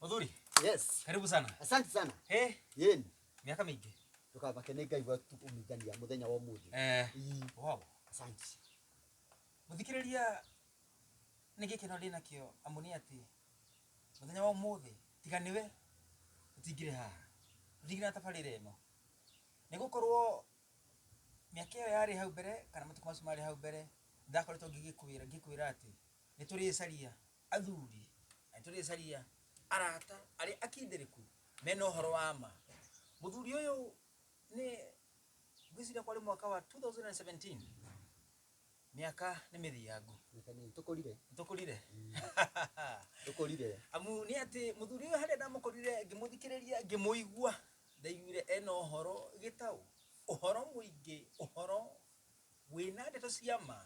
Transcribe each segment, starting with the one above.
Muthuri, Yes. karibu sana. Asante sana. Eh, Yeni. miaka mingi. Tukabake nĩ Ngai watu kumithania mũthenya wa ũmũthĩ. Eh, Ii, wow. Asante. Muthikiriria nĩ gĩkeno ndĩ nakĩo amu nĩ atĩ mũthenya wa ũmũthĩ tiga nĩwe ũtingire haha ũtingire na tabarĩra ĩno nĩ gũkorwo mĩaka ĩyo yarĩ hau mbere kana matukũ macio marĩ hau mbere ndakoretwo ngĩgĩkwĩra ngĩkwĩra atĩ nĩ tũrĩcaria athuri na nĩ tũrĩcaria arata arĩa akindĩrĩku mena ũhoro wa ma mũthuri ũyũ nĩ ngwĩciria kwarĩ mwaka wa 2017 mĩaka nĩ mĩthiangu Reke nĩ tũkũrire tũkũrire tũkũrire amu nĩ atĩ mũthuri ũyũ harĩa ndamũkorire ngĩmũthikĩrĩria ngĩmũigua ndaiguire ena ũhoro gĩtaũ ũhoro mũingĩ ũhoro Wĩ na ndeto cia ma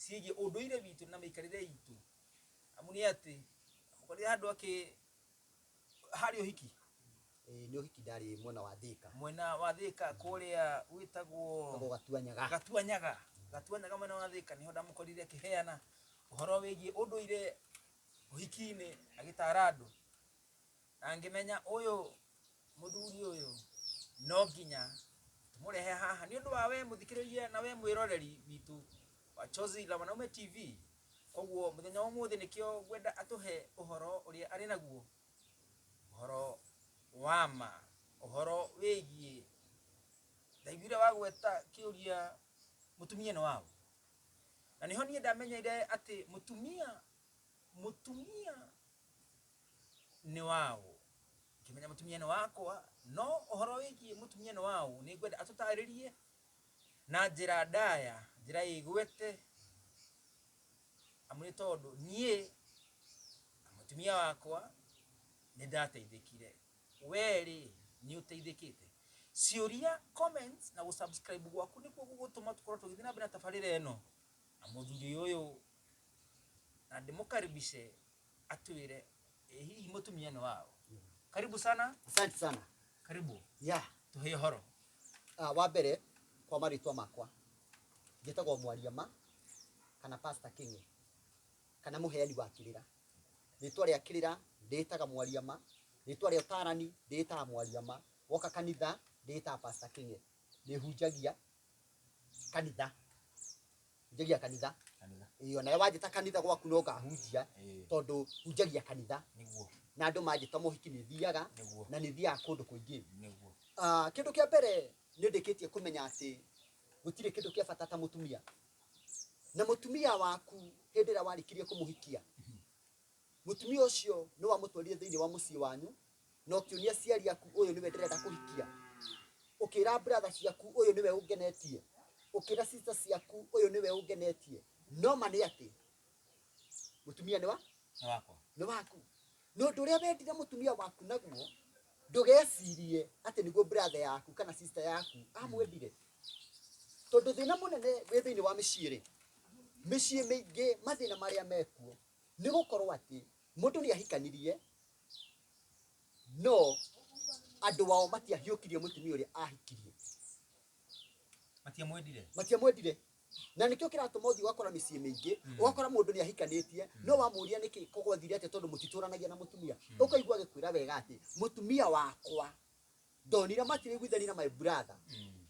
ciĩgiĩ ũndũire witũ na mĩikarĩre itũ? Amu nĩ atĩ ũkorire handũ akĩ harĩ ũhiki Ĩĩ, nĩ ũhiki ndarĩ mwena wa Thika. mwena wa Thika kũrĩa Tagwo wĩtagwo Gatuanyaga. Gatuanyaga Gatuanyaga mwena wa Thika nĩho ndamũkorire akĩheana ũhoro wĩgiĩ ũndũire ũhiki-inĩ agĩtara andũ Na ngĩmenya ũyũ mũthuri ũyũ no nginya tũmũrehe haha nĩ ũndũ wa we mũthikĩrĩria na we mwĩroreri witũ wa Chozi la Wanaume TV. Koguo mũthenya wa ũmũthĩ nĩkĩo ngwenda atũhe ũhoro ũrĩa arĩ naguo, ũhoro wa ma, ũhoro wĩgiĩ ndaiguire wagweta kĩũria mũtumia nĩ waũ, na nĩho niĩ ndamenyire atĩ mũtumia mũtumia nĩ waũ? Ngĩmenya mũtumia nĩ wakwa, no ũhoro wĩgiĩ mũtumia nĩ waũ nĩ ngwenda atũtarĩrie na njĩra ndaya, njĩra ĩgwete, amu nĩ tondũ niĩ na mũtumia wakwa nĩ ndateithĩkire. Wee rĩ, nĩ ũteithĩkĩte? Ciũria, comments na gũ subscribe gwaku nĩkuo gũgũtũma tũkorwo tũgĩthiĩ na mbere na tabarĩra ĩno na mũthuri ũyũ, na ndĩmũkaribishe Atwire eh, hihi mutumia ni wao. Karibu sana, Asante sana. karibu. Ya, Tuhe horo. ah, wa mbere kwa marĩtwa makwa njĩtagwo mwaria ma kana Pastor King'e kana mũheani wa kĩrĩra. Rĩtwa rĩa kĩrĩra ndĩĩtaga mwaria ma, rĩtwa rĩa ũtaarani ndĩĩtaga mwaria ma, woka kanitha ndĩĩtaga Pastor King'e. Ndĩhunjagia kanitha. hunjagia kanitha Kanitha. ĩĩ onawe wanjĩta kanitha gwaku no ngahunjia Ĩĩ. tondũ hunjagia kanitha Nĩguo. na andũ manjĩta mohiki nĩ thiaga Nĩguo. na nĩ thiaga kũndũ kũingĩ Nĩguo. Ah, kĩndũ kĩa mbere nĩ ndĩkĩtie kũmenya atĩ gũtirĩ kĩndũ kĩa bata ta mũtumia na mũtumia waku hĩndĩ ĩrĩa warĩkirie kũmũhikia Mũtumia ũcio nĩ wamũtwarire thĩinĩ wa mũciĩ wanyu na ũkĩũria aciari aku ũyũ nĩwe ndĩrenda kũhikia, ũkĩra brother ciaku ũyũ nĩwe ũngenetie, ũkĩra sister ciaku ũyũ nĩwe ũngenetie, no ma nĩ atĩ mũtumia nĩ wa Nĩ wakwa. nĩ waku na ũndũ ũrĩa wendire mũtumia waku naguo ndũgecirie atĩ nĩguo brother yaku kana sister yaku amwendire tondũ thĩna mũnene wĩ thĩinĩ wa mĩciĩ-rĩ mĩciĩ mĩingĩ mathĩna marĩa mekuo Nĩ gũkorwo atĩ mũndũ nĩ ahikanirie, no andũ ao matiahiũkirie mũtumia ũrĩa ahikirie, matiamwendire matiamwendire. Na nĩkĩo kĩratũma ũthiĩ ũgakora mĩciĩ mĩingĩ, ũgakora mũndũ nĩ ahikanĩtie, no wamũria nĩkĩ gwathire atĩa tondũ mũtitũranagia na mũtumia. Ũkaigua agĩkwĩra wega atĩ mũtumia wakwa ndonire matiraiguithania na my brother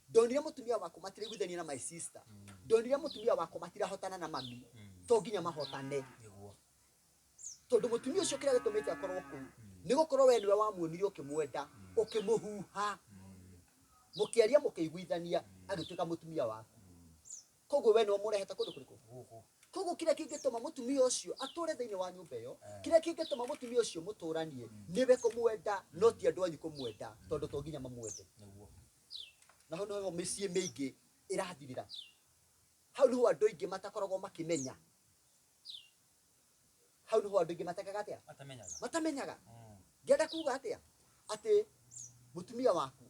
ndonire mutumia wakwa matiraiguithania na my sister ndonire mutumia wakwa matirahotana na mami to nginya mahotane nĩguo tondu mutumia ucio kira gitumite akorwo kuu ni gukorwo we niwe wamuonire ukimwenda ukimuhuha mukiaria mukiguithania agituika mutumia waku koguo we nĩ ũmũrehete kũndũ kũrĩkũ gũkũ koguo kĩrĩa kĩngĩtũma mũtumia ũcio atũre thĩinĩ wa nyũmba ĩyo Eh. kĩrĩa kĩngĩtũma mũtumia ũcio mũtũranie nĩwe kũmwenda no ti andũ anyu kũmwenda tondũ to nginya mamwende nĩguo na hau nĩho mĩciĩ mĩingĩ ĩrathirĩra hau nĩho andũ aingĩ matakoragwo makĩmenya hau nĩho andũ aingĩ matekaga atĩa atamenyaga matamenyaga Mm. ngenda kuga atĩa atĩ mũtumia waku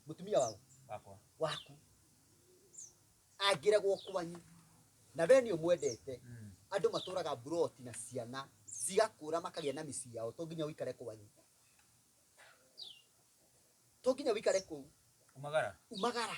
mũtumia wau wakwa waku angĩregwo kwanyu na we nĩ ũmwendete Mm. andũ matũraga mburoti na ciana cigakũra makagĩa na mĩciĩ yao to nginya ũikare kwanyu to nginya ũikare kũu umagara umagara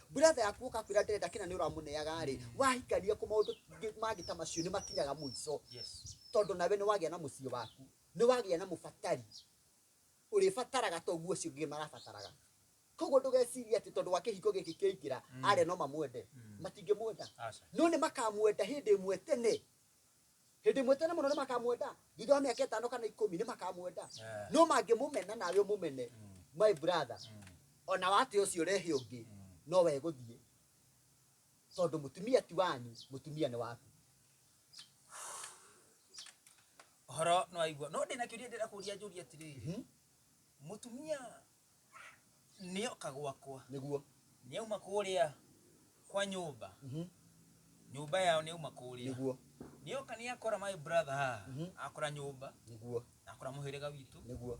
brother yaku ũka kwĩra ndĩrenda kĩna nĩ ũramũneaga rĩ wahikania kũ maũndũ ngĩ- mangĩ ta macio nĩ makinyaga mũico Yes. tondũ nawe nĩ wagĩa na mũciĩ waku nĩ wagĩa na mũbatari ũrĩbataraga toguo ũcio ũngĩ marabataraga koguo ndũgeciria atĩ tondũ wa kĩhiko gĩkĩ kĩaingĩra arĩa no mamwende matingĩmwenda Aca. no nĩ makamwenda hĩndĩ ĩmwe tene hĩndĩ ĩmwe tene mũno nĩ makamwenda thutha wa mĩaka ĩtano kana ikũmi nĩ makamwenda Eh. no mangĩmũmena nawe ũmũmene my brother ona wate ũcio ũrehe ũngĩ no we gũthiĩ tondũ mũtumia ti wanyu mũtumia nĩ waku horo nä waigua no ndä na kä å ria ndä rakå ria njå ria atirä mũtumia nĩoka gwakwa nĩguo nĩauma kũrĩa kwa nyũmba Mhm. nyũmba yao nĩauma kũrĩa nĩguo nĩoka nĩakora my brother haha Mhm. akora nyũmba nĩguo na akora mũhĩrĩga witũ nĩguo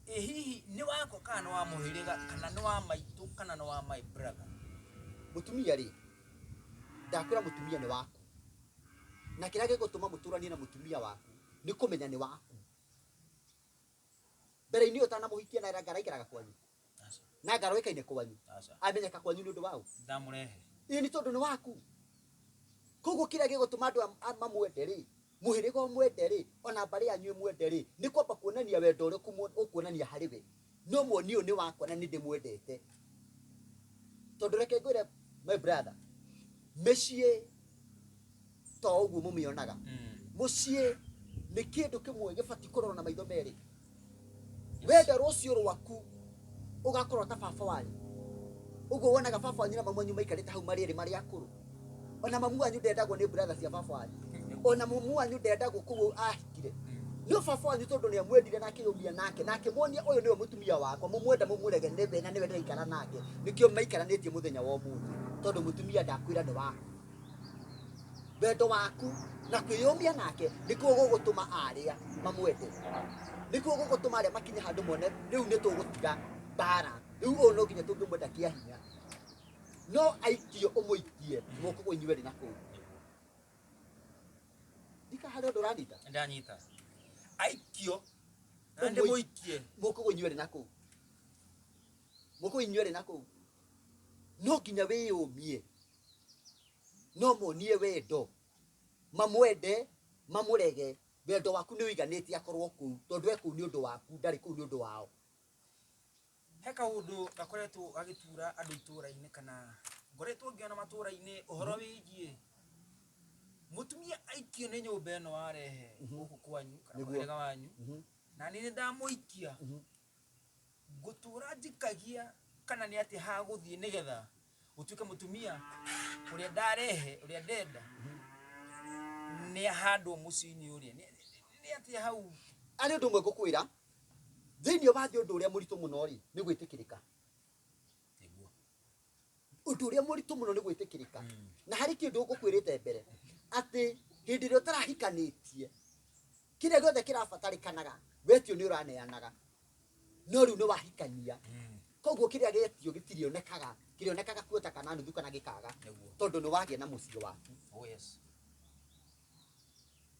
ĩ hihi nĩ wakwa kana nĩ wa mũhĩrĩga kana nĩ wa maitũ kana nĩ wa my brother mũtumia rĩ ndakwĩra mũtumia nĩ waku na kĩrĩa gĩgũtũma mũtũranie na mũtumia waku nĩ kũmenya nĩ waku mbere-inĩ ũtanamũhikia na ngara ikaraga kwanyu na ngara ĩkaine kwanyu Aca. amenyeka kwanyu nĩ ũndũ wa ũ Ndamũrehe. ĩĩ nĩ tondũ nĩ waku koguo kĩrĩa gĩgũtũma andũ am- a- mamwende rĩ mũhĩrĩga ũmwende rĩ ona mbarĩ yanyu ĩmwende rĩ nĩ kwamba kuonania wendo ũrĩa ũkumwo- ũkuonania harĩ we no muoni ũyũ nĩ wakwa na nĩ ndĩmwendete tondũ reke ngwĩre my brother mĩciĩ to ũguo mũmĩonaga mũciĩ nĩ kĩndũ kĩmwe gĩbatiĩ kũrorwo na maitho merĩ wenda rũciũ rwaku ũgakorwo ta baba wanyu ũguo wonaga baba wanyu na mamu wanyu maikarĩte hau marĩ erĩ marĩ akũrũ ona mamu wanyu ndendagwo nĩ brother cia baba wanyu ona mamu wanyu ndendagwo kũu ahikire no baba wanyu tondũ nĩ amwendire na akĩyũmia nake na akĩmuonia ũyũ nĩwe mũtumia wakwa mũmwenda mũmwĩrege nĩ thĩna nĩwe ndĩraikara nake nĩkĩo maikaranĩtie mũthenya wa ũmũthĩ tondũ mũtumia ndakwĩra nĩ waku Wendo waku na kwĩyũmia nake nĩkuo gũgũtũma arĩa mamwende nĩkuo gũgũtũma arĩa makinye handũ mone rĩu nĩ tũgũtiga mbara rĩu ũyũ no nginya tũngĩmwenda kĩa hinya no aikio ũmũikie moko kũ inyuerĩ na kũu ndika harĩ ũndũ ũranyita ndanyita aikio na Ũmũi- ndĩmũikie moko kũ inyuerĩ na kũu moko kũ inyuerĩ na kũu no nginya wĩyũmie no monie wendo mamwende mamũrege wendo waku nĩ ũiganĩtie akorwo kũu tondũ e kũu nĩ ũndũ waku ndarĩ kũu nĩ ũndũ wao he kaundu gakoretwo gagitura andu ituraini kana ngoretwo ngiona maturaini uhoro wigie mutumia aikio ni nyumba ino arehe guku kwanyu kana Nĩguo. muhirega wanyu Mhm. na ni ndamuikia Mhm. ngũtũra njikagia kana nĩ atĩa hagũthiĩ nĩgetha ũtuĩke mũtumia ũrĩa ndarehe ũrĩa ndenda nĩ ahandwo mũciĩ-inĩ ũrĩa Nĩ- nĩ- nĩ atĩa hau arĩ ũndũ ũmwe ngũkwĩra thĩinĩ wa thĩ ũndũ ũrĩa mũritũ mũno rĩ nĩ gwĩtĩkĩrĩka nĩguo ũndũ ũrĩa mũritũ mũno nĩ gwĩtĩkĩrĩka na harĩ kĩndũ ngũkwĩrĩte mbere atĩ hĩndĩ ĩrĩa ũtarahikanĩtie kĩrĩa gĩothe kĩrabatarĩkanaga wetio nĩ ũraneanaga no rĩu nĩ wahikania koguo kĩrĩa gĩetio gĩtirĩonekaga kĩrĩonekaga kuota kana nuthu kana gĩkaga Nĩguo. tondũ nĩ wagĩa na mũciĩ waku Oh yes.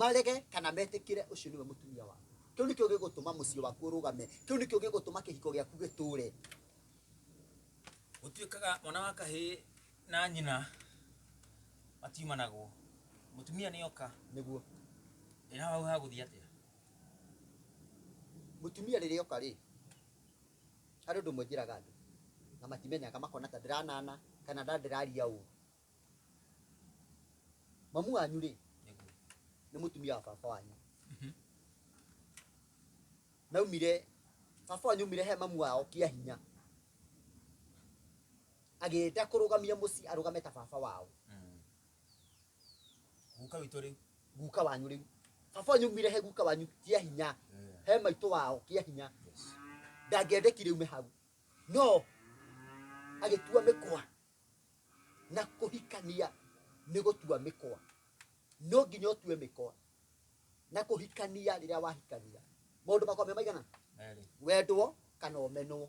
marege kana metĩkĩre ũcio nĩwe mũtumia waku kĩu nĩkĩo gĩgũtũma mũciĩ waku ũrũgame kĩu nĩkĩo gĩgũtũma kĩhiko gĩaku gĩtũre gũtuĩkaga mwana wa kahĩ na nyina matiumanagwo mũtumia nĩ oka nĩguo ĩra hau hagũthiĩ atĩa mũtumia rĩrĩa oka rĩ harĩ ũndũ ũmwe njĩraga andũ na matimenyaga makona ta ndĩranana kana nda ndĩraria ũũ mamu wanyu rĩ nĩ mũtumia wa baba wanyu naumire baba wanyu umire he mamu wao kia hinya agĩta kũrũgamia mũciĩ arũgame ta baba wao guka witå rä guka wanyu rĩu baba wanyu umire he guka wanyu kia hinya he maitũ wao kia hinya ndangĩendekire ume hau no agĩtua mĩkwa na kũhikania nĩ gũtua mĩkwa no nginya ũtue mĩkwa na kũhikania rĩrĩa wahikania maũndũ makwa me maigana Merĩ. wendwo kana ũmenwo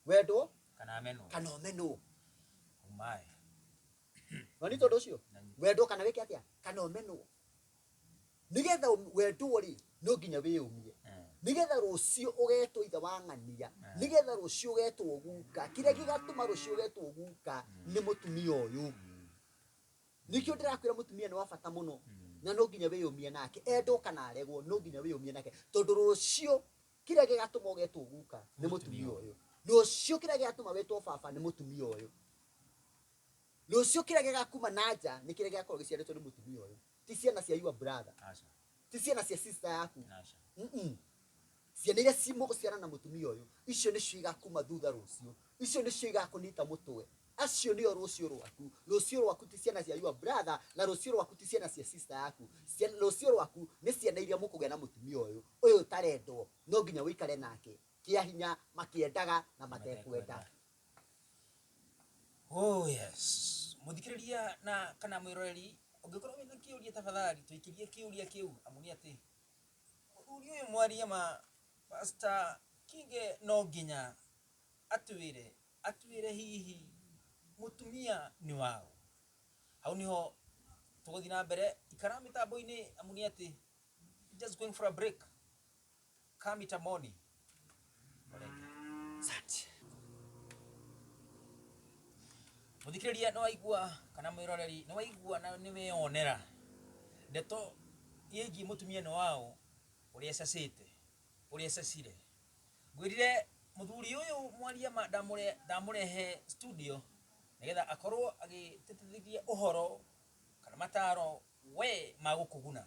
wendwo Kana amenwo. kana ũmenwo Umae. na nĩ tondũ ũcio Na nĩ- wendwo kana wĩke atĩa kana ũmenwo nigetha wendwo ri no nginya wiyumie nigetha rucio ugetwo ithe wa ng'ania nigetha rucio ugetwo guka kiria gigatuma rucio ugetwo guka ni mutumia uyu nikio ndirakwira mutumia ni wa bata muno na no nginya wiyumie nake endwo kana aregwo no nginya wiyumie nake tondu rucio kiria gigatuma ugetwo guka ni mutumia uyu rucio kiria gigatuma wetwo baba ni mutumia uyu Rũciũ kĩrĩa gĩgakuma na nja nĩ kĩrĩa gĩgakorwo gĩciarĩtwo nĩ mũtumia ũyũ. Ti ciana cia your brother. Aca. Ti ciana cia sister yaku. Aca. Mm-mm. Ciana iria ci mũgũciara na mũtumia ũyũ, icio nĩcio igakuma thutha rũciũ. Icio nĩcio igakũnyita mũtwe. Acio nĩo rũciũ rwaku. Rũciũ rwaku ti ciana cia your brother, na rũciũ rwaku ti ciana cia sister yaku. Ciana, rũciũ rwaku nĩ ciana iria mũkũgĩa na mũtumia ũyũ, ũyũ ũtarendwo. No nginya ũikare nake. Kĩa hinya, makĩendaga na matekwenda. Oh yes. Mũthikĩrĩria na kana mwĩroreri ũngĩkorwo wĩna kĩũria tafadhali tũikĩrie kĩũria kĩu amu nĩ atĩ mũthuri ũyũ mwaria ma Pastor Kinge no nginya atwĩre atwĩre hihi mũtumia nĩ waũ. Hau nĩho tũgũthiĩ na mbere ikara mĩtambo-inĩ amu nĩ atĩ just going for a break. Kami tamoni. Olenge. Sati. Muthikiriria no aigua kana mwiroreri no aigua na ni weyonera ndeto yegi mutumia no wao uri esasite uri esasire ngwirire muthuri uyu mwaria ma ndamure ndamurehe studio nigetha akorwo agititithiria uhoro kana mataro we magukuguna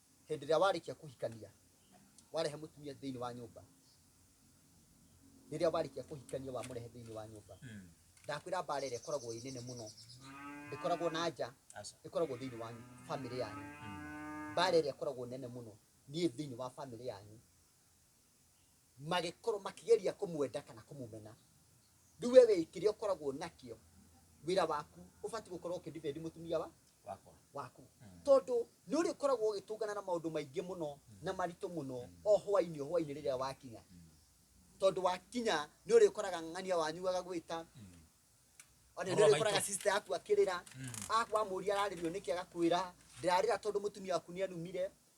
hĩndĩ ĩrĩa warĩkia kũhikania warehe mũtumia thĩinĩ wa nyũmba rĩrĩa warĩkia kũhikania wamũrehe thĩinĩ wa nyũmba Mm. ndakwĩra mbara ĩrĩa ĩkoragwo ĩ nene mũno ĩkoragwo na nja Aca. ĩkoragwo thĩinĩ wa bamĩrĩ yanyu Mm. mbara ĩrĩa ĩkoragwo nene mũno niĩ thĩinĩ wa bamĩrĩ yanyu magĩkorwo makĩgeria kũmwenda kana kũmũmena rĩu we wĩ kĩrĩa ũkoragwo nakĩo wĩra waku ũbatiĩ gũkorwo ũkĩdefend mũtumia wa wakwa waku tondũ nĩ ũrĩ ũkoragwo ũgĩtũngana na maũndũ maingĩ mũno na maritũ mũno o hwainĩ o hwainĩ rĩrĩa wakinya tondũ wakinya nĩ ũrĩ ũkoraga ng'ania wanyu agagwĩta ona nĩ Ũhoro ũrĩ ũkoraga maitũ. sister yaku akĩrĩra akwa mũria ararĩrio nĩkĩ agakwĩra ndĩrarĩra tondũ mũtumia waku nĩ anumire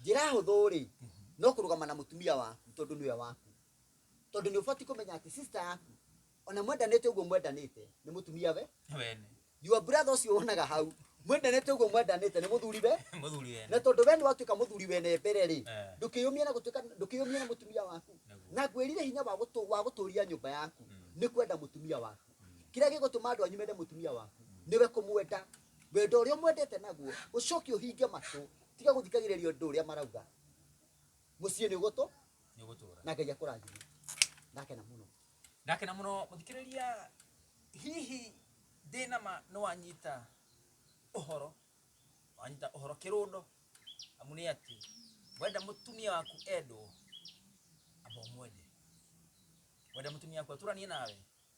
njĩra hũthũ rĩ no kũrũgama na mũtumia waku tondũ nĩwe waku tondũ nĩ ũbatiĩ kũmenya atĩ sister yaku ona mwendanĩte ũguo mwendanĩte nĩ mũtumia we wene your brother ũcio wonaga hau mwendanĩte ũguo mwendanĩte nĩ mũthuri we mũthuri wene na tondũ we nĩ watuĩka mũthuri wene mbere rĩ Eh. ndũkĩyũmia na gũtuĩka ndũkĩyũmia na mũtumia waku Nĩguo. na ngwĩrire hinya wa gũtũ- wa gũtũria nyũmba yaku nĩ kwenda mũtumia waku kĩrĩa gĩgũtũma andũ anyu mende mũtumia waku nĩwe kũmwenda wendo ũrĩa ũmwendete naguo ũcoke ũhinge matũ tiga gũthikagĩrĩria ũndũ ũrĩa marauga mũciĩ nĩ ũgũtũ nĩ ũgũtũra na ngai akũrathime ndakena mũno ndakena mũno mũthikĩrĩria hihi ndĩnama nĩ wanyita ũhoro wanyita ũhoro kĩrũndo amu nĩ atĩ wenda mũtumia waku endwo amba ũmwende wenda mũtumia waku atũranie nawe